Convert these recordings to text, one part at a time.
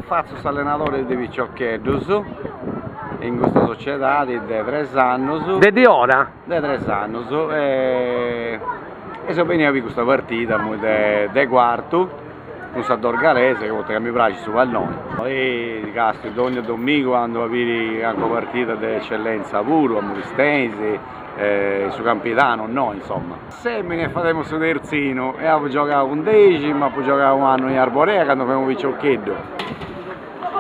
Fatzu s'allenadore de piciocheddus in custa sociedadi de tres annus. De diora? de tres annus e seu benniu a biri custa partida de Cuartu cun sa Dorgalese chi poita mi praxit su palloni e castiu dònnia domigu andu a biri cancu partida de Ecellenza puru a Muristenis e su Campidanu innoi insomma. Assèmini e fademu su terzinu e apu giogau cun Deximu, apu giogau un'annu in Arborea candu femu piciocheddu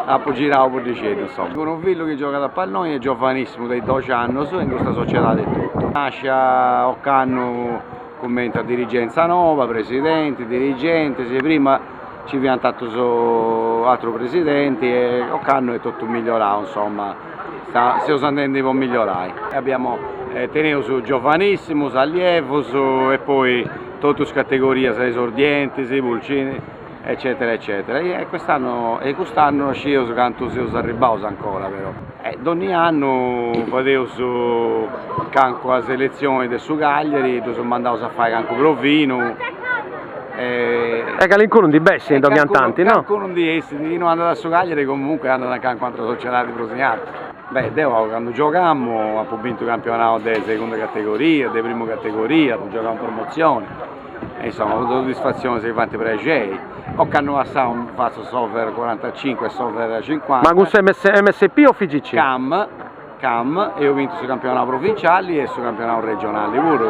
Apu girau puddixeddu, insoma, cun unu fillu chi giogat a palloni, est giovanissimu de doxi annus in custa sociedadi etotu. Nascia ocannu cumenti a dirigenza noba, presidenti, dirigentis, prima nci fiant atrus, atru presidenti e ocannu est totu migliorau, insoma, seus andendi po migliorai. Abbiamo, teneus giovanissimus, allievus e poi totus is categorias, esordientis, pulcinis eccetera eccetera e e quest'anno e i cust'annu no scius cantu seus arribbaus ancora però e dònnia annu fadeus cancua selezioni de su Cagliari ddus mandaus a fai cancu provinu e E calincunu ndi bessit e dònnia tanti no? calincunu ndi essit chi no andat a su Cagliari comunque andat a cancu atra sociedadi prus in artu beh deu candu giogamu apu bintu campionau de segunda categoria de primu categoria apu giogau in promozioni E insomma funt soddisfatzionis chi faint prexei, ocannu passau fatzu s'over cuarantacincu e s'over cincuanta. Ma cun s'MSP o FIGC? Cam, cam, eus bintu su campionau provinciali e su campionau regionali puru.